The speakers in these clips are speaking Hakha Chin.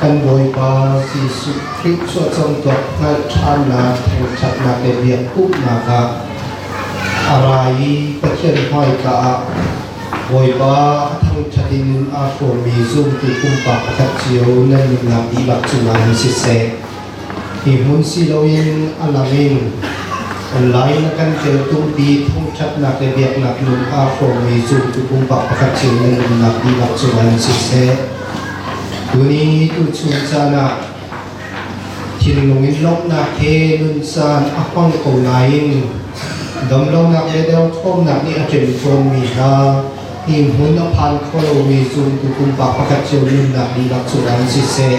Kan Bawipa Jesuh Khrih suahcamtuak hngalhthannak thangṭhatnak le biak umnak ah a ra i Pathian hmaika ah Bawipa a thangṭhat in aa hrawmmi zumtu pumpak pakhat cio nan nunnak dihlak cungah um siseh. Hi hmun siloin a lang in online na kan tel tung pi thongthatnak le biaknak nun aa hrawmmi zumtu pumpak pakhat cio nan umnak dihlak cungah in siseh, tuni tuchun caan ah thinlung in lawmhnak he nun caan a hmang ko nain damlonak le derthawmnak nih a ṭem tawnmi hna hi hmun a phan kho lomi zumtu pumpak pakhat cio nunnak dihlak cungah in siseh,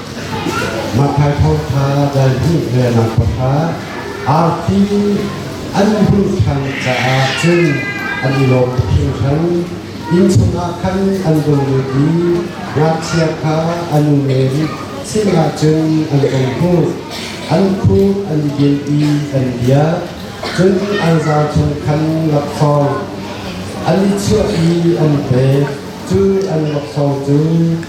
Matthai thawngṭha delhnih le nangpahra arfi an hmuh ṭhan caah cun an i lawm hringhran. Inn chungah khan an vung lut i ngakchia kha an u men sinah cun an vung hmuh. An khut an din i an biak, cun an zau chung khan laksawng an i chuah i an pek, cu an laksawng cu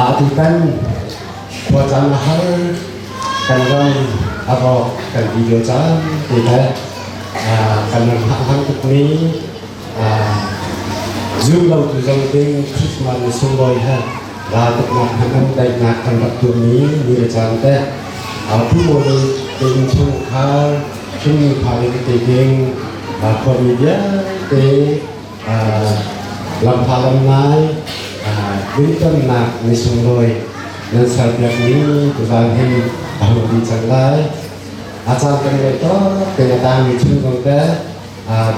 Aa tutan khuacaan a har, kan ram a rawk kan video caan te le kan ram a har tukmi zumlotu zong ding Christmas ni sunglawi he raltuknak hmanam daihnak kan rak tuahmi ni le caan te Pu Mawli te inn chungkhar hringmi pha in te ding khua mi vialte Lamhal ngai Mintonnak ni sunglawi nan serpiakmi tiva hin a hung dih cang lai. A caan kan ngei tok te a tangmi chung zong te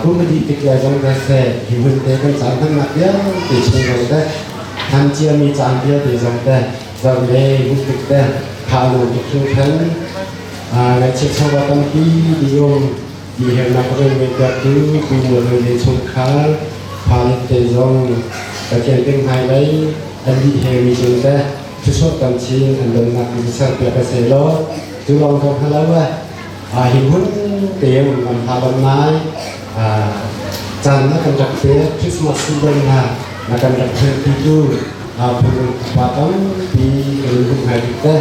kumadi tikle zong te se hi hun te kan caan hmannak vialte chung zong te han ciami caan vialte zong te zong le hutik te khalu tiklu thang ngai chiat chawwa tampi dium Biahalnak rung ngaihpiaktu Miphun rili chungkhar phang te zong ka tial peng hna lai. An lih he mi cung teh thlusuah tam chin an donnak in serpiak a se law cu lawng ko hna lo ah hi hmun te um am hla bang nai caan na kan rak pek Christmas season na na kan rak thianpitu phun upa tampi kan in hum ngai tuk teh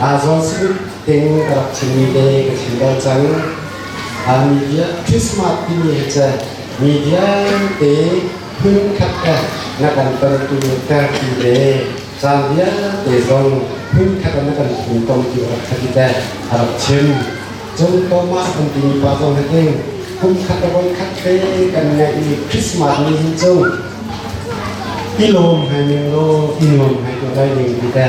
Azon Spirit tein ka rak chimmi te ka chim bal cang. Media Christmas timi hi cu media te phunkhat te na kan tontu tertu le caan vialte zong phunkhat na kan funtom ti rak khati te a rak chim. Cung Thomas an timi pa zong hi hin kum khat le voi khat te kan ngeihmi Christmas ni hi cu i lawm hai ning law i nuam hai tu dai ding ti te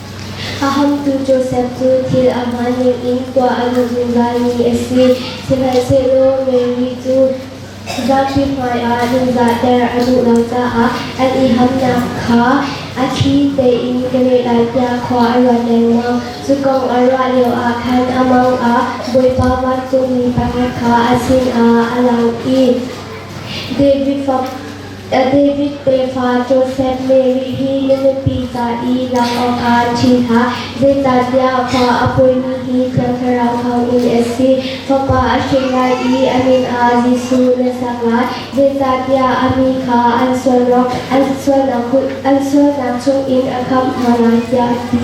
A hamtu Josef cu thil a hmaan ningin khua a luh zungzalmi a si, sihmanhsehlaw Mary cu zapi hmaiah ningzahter a duh lo caah an i hamnak kha a thli tein ka ngeihlanpiak khua a ruat lengmang. Cu kong a ruah lioah khan a mang ah Bawipa vancungmi pakhat kha a sinah a lang i, David fapa, A David tefa Josef Mary hi na nupi ca i lam awkah ṭhi hna, zeicahtiah khua a pawimi hi Thiang Thlarau thawngin a si. Fapa a si lai i a min ah Jesuh na sak lai, zeicahtiah a mi kha an sualnak an sualnak an sualnak chungin a khamh hna lai, tiah a ti.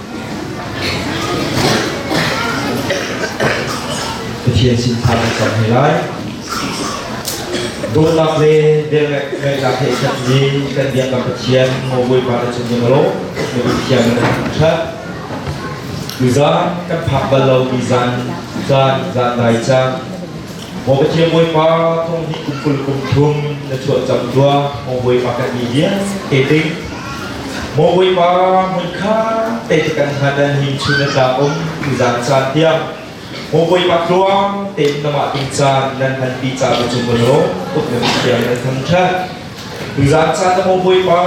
Pathian sin tha kan cang hei lai. Dawtnak le velngeihnak he i khatmi kan biak kan Pathian maw Bawipa na cung ning law na Pathian na ṭhat. Tuzan kan phak bal lo mi zan, zan, zan dai cang. Maw Pathian Bawipa, thong hnih kum kul kum thum na chuah cang tua, Maw Bawipa kan mi vias ke ding. Maw Bawipa, mun kha te te kan ha dan him chu na tla um, tu zan caan tiang. Maw Bawipa tluang, te na ma ting caan, nan han pi ca ku chung mano, uk na mithiam nan thang than. Tu zan caan na Maw Bawipa,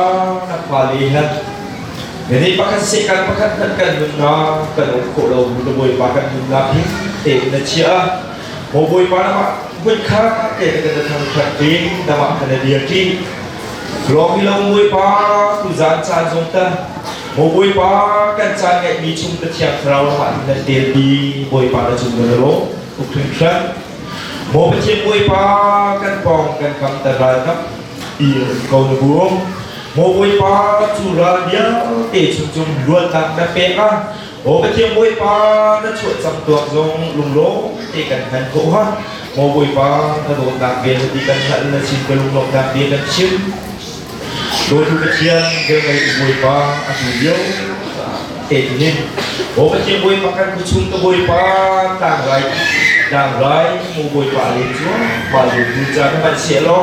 na pa le han. Jadi pakat sikan pakat nan kan nuna kan uk ko lo, Maw Bawipa kan nuna ping, te na chia. Maw Bawipa na mah vuit kha ke ka na thang khat ding na mah ka na dir ti Lawm i lo Bawipa tu zan caan zong ta Maw Bawipa kan caan ngai mi chung ka thiang thlarau ma in na tel ti Bawipa na chung na lo tuk thun khan Maw Pathian Bawipa kan pong kan kam ta ral nak ir ko na bum Maw Bawipa cu ral bia te chung chung luat nak na pek a Maw Pathian Bawipa na chuah cang tuak zong lunglawm te kan hman ko ha. Maw Bawipa na dawtnak bia na ti kan hngalh na sin ka lunglawmnak bia kan chim. Dawitu Pathian velnei Bawipa a tu lio etunin Maw Pathian Bawipa kan ku chung ka Bawipa tlangrai tlangrai Maw Bawipa len cuan pa dawitu ca na hman sia law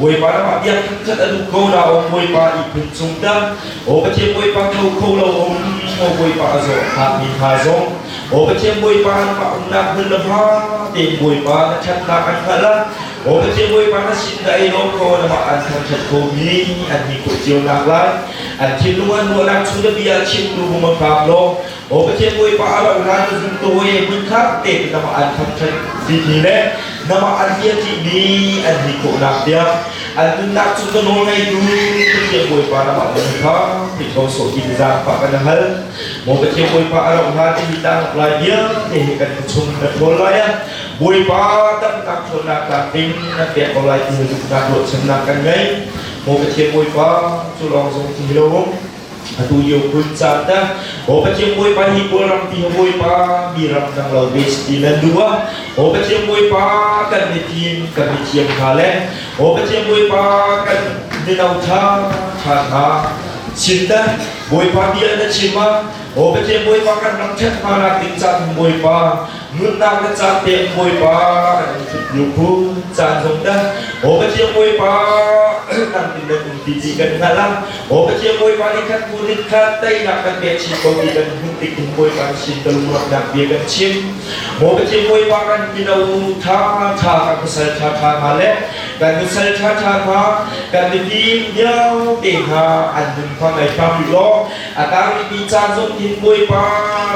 Bawipa ram biak khat a duh ko la o Bawipa i phun chung dah o Pathian Bawipa tho kho lo o o Bawipa a zawh phak mi tha zong o Pathian Bawipa an mah umnak hmun le ha te Bawipa na thatnak an hngal a o Pathian Bawipa na sin na ei lo ko na mah an thangthat ko mi an ni ko cio nak lai an thin lungan luanak chu da bia chim nu hum a phak lo Aw Pathian Bawipa a ro hna cu zumtawi hmun kha te namah an khamh ṭhan dini le namah an bia ṭihmi an ni khawhnak tiang an nunnak cu ka nawl ngeitu Pathian Bawipa namah min kha Khrih ko sawh ti zaangfah kan hal. Maw Pathian Bawipa a ro hna ti hi tangak lai vialte hi kan chung na ṭhawl lai a Bawipa tamtak ṭhawnnak tlamtling na pek ko lai ti hi zumhnak ruahchannak kan ngei. Maw Pathian Bawipa cu lawng zong ti hi lo um. atu yo kun cha ta o ba chiang boi pa hi bol ram ti boi pa mi ram nang lo be ti lan duwa o ba chiang boi pa kan ni tin kan ni chiang tha le o ba chiang boi pa kan ni nau tha tha tha chin ta boi pa bia na chima o ba chiang boi pa kan ram thet ma na ting cha boi pa Nunnak na caan pek Bawipa an in hrut nu khu caan hong dah Aw Pathian Bawipa kan in nan um ti ti kan hngal a Aw Pathian Bawipa nih khan bu nih khan teinak kan pek chin ko ti kan hun tik in Bawipa nih sin ka lungrawknak bia kan chim Aw Pathian Bawipa kan mino tha tha kan pasal tha tha hna le kan nusal tha tha hna kan mipi miau te hna an nun hma ngai phang law A tangmi caan zong hin Bawipa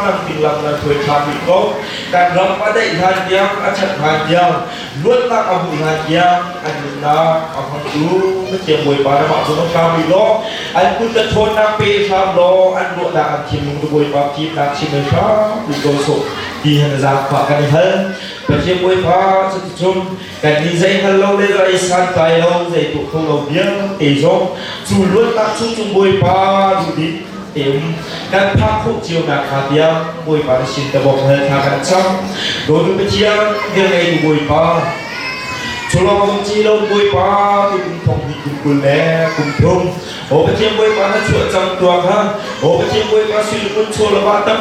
lamtling lam nan hruai ṭha bik ko. Kan ram a daih hlan tiang, a ṭhat hlan tiang, luatnak a hmuh hlan tiang, an nunnak a hmangtu na thiang Bawipa na mah zong an ṭha bik law, an kut ka ṭhawnnak pe hram law, an ruahnak an thim lung Bawipa thimnak chim mai hram bik ko sawh. Ti han zaangfah kan i hal. Pathian Bawipa cuticun Kan nih zei hal lo le ra i santlai lo zei tu kho lo vialte zong cu luatnak cu cung Bawipa duhdik te um kan phak khuk cio na kha bia Bawipa na sin tabok hal tha kan chang Dodu Pathian vial ngei tu Bawipa Chulawng chi lo Bawipa tu kum thong hi kum kul le kum thum O Pathian Bawipa na chuah cang tua kha O Pathian Bawipa suil kun cholawa tak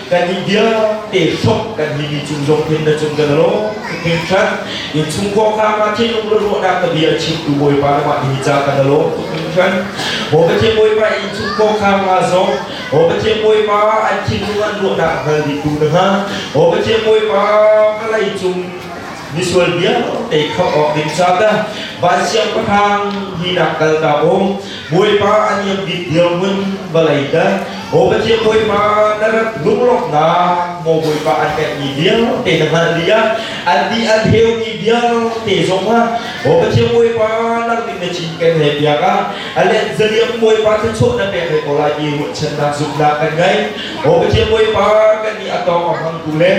kannih vialte hrok kan mi mi cung zong pin na cung kan lo pin khat in chung khua kha ma thi lung ruah dak ka bia chim tu bawipa na ma ni cha kan lo pin khat o ka thi bawipa in chung khua kha ma zong o ka thi bawipa an thi lung an ruah dak hal di tu na ha o ka thi bawipa kalai cung misual bia te khap ok ding cha ta ba siang pathang hi dak kal ka bong Bawipa a niam bik dirhmun vawlei dah Aw Pathian Bawipa na rat lunglawmhnak maw Bawipa an pekmi vialte na hngalh dih ah an ti an theumi vialte zong ah Aw Pathian Bawipa nang nih na cinken le piak ah a let zaliam Bawipa thluachuah na pek hei ko lai ti ruahchannak zumhnak kan ngei Aw Pathian Bawipa kan nih a tawng a hmangtu le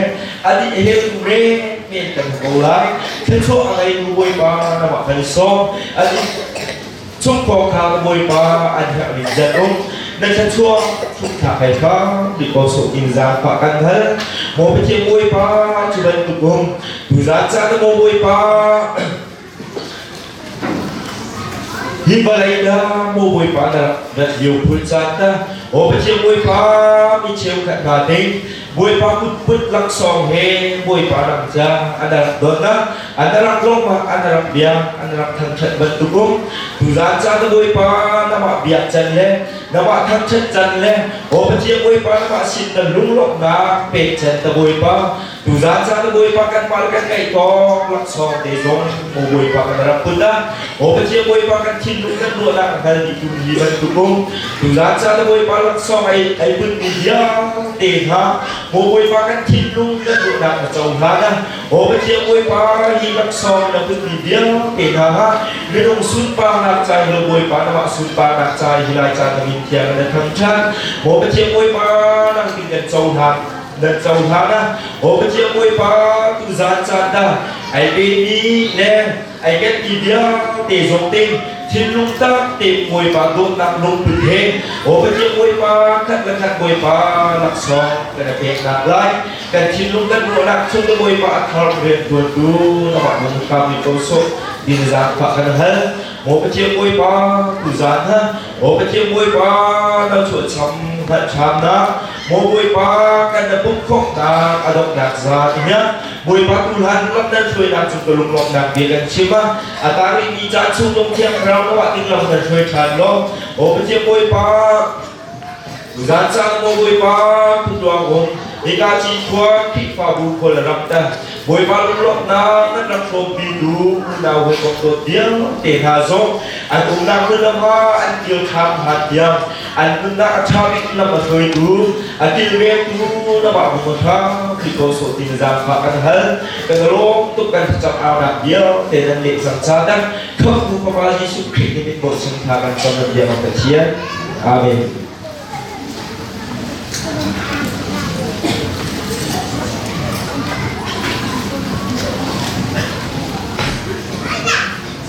a nih heltu men men kan ko lai thluachuah a ngeitu Bawipa na mah kan i sawm a nih Cung pawng kha ka bawipa an herhmi zan um na thluachuah thukthak hei kha mi kosuk in zan pa kan hal mo bete bawipa cu bantuk um tu zan ca na mo bawipa hi balai na mo bawipa na na liu phul chan na o bete bawipa mi cheu khat ka ding Bawipa kutput laksawng he Bawipa ram ca an rak donna an rak lawmah an rak bia an rak thangṭhat bantukum tuzan ca tu Bawipa namah bia can le namah thangṭhat can le Obajia Bawipa namah sin na lunglawmhnak pek can ta Bawipa tuzan ca tu Bawipa kan mal kan ngaih tawk laksawng te zong Bawipa kan rak put a Hawkaceu Bawipa kan thinlung kan ruahnak a kal dih tu hi bantuk um. Tuzan cha le Bawipa laksawng ai ai bunmi vialte hna Mo Bawipa kan thinlung kan ruahnak a co hna na Hawkaceu Bawipa hi laksawng na bunmi vialte hna ha minung sunparnak cai lo Bawipa na mah sunparnak cai hi lai caan na min thiang na tham than Hawkaceu Bawipa nang din kan co hna nan co hna na Hawkaceu Bawipa tuzan cha da ai pe ni le ai kan ti vialte zong ting thinlung takte bawipa dawtnak lungput he Obati bawipa khat le khat bawipa laksawng kan i pek nak lai kan thinlung kan ruahnak chung ka bawipa a thar rian tuan tu namah mung kami ko so din zan fa kan hal Obati bawipa tu zan ha Obati bawipa na chuah cham na cham na Maw Bawipa kan na pumhkhawmhnak a donghnak za tinya Bawipa tu hlan lam nan hruainak cu ka lunglawmhnak bia kan chim a a tari mi ca chu tong thiang rau lo ah ding lam nan hruai ṭhan lo O Bawipa Bawipa Zan sang maw Bawipa phutluang um Ika ci khua Khrihfabu khua la ram ta Bawipa lunglawmhnak nan ram hrawmpi tu unau hoi kong dawt diam te hna zong an umnak hmun lamha an kil thlam han diam an nunnak a ṭha bik lam a hruaitu a kilvengtu na mah bu kha khi ko sawh ti na zaang kha kan hal kan rawm tuk kan cam aunak vialte nan leh cang ca dak khambu papa Jesuh Khrih ni mit bawh chung tha kan cam nan biak Pathian amen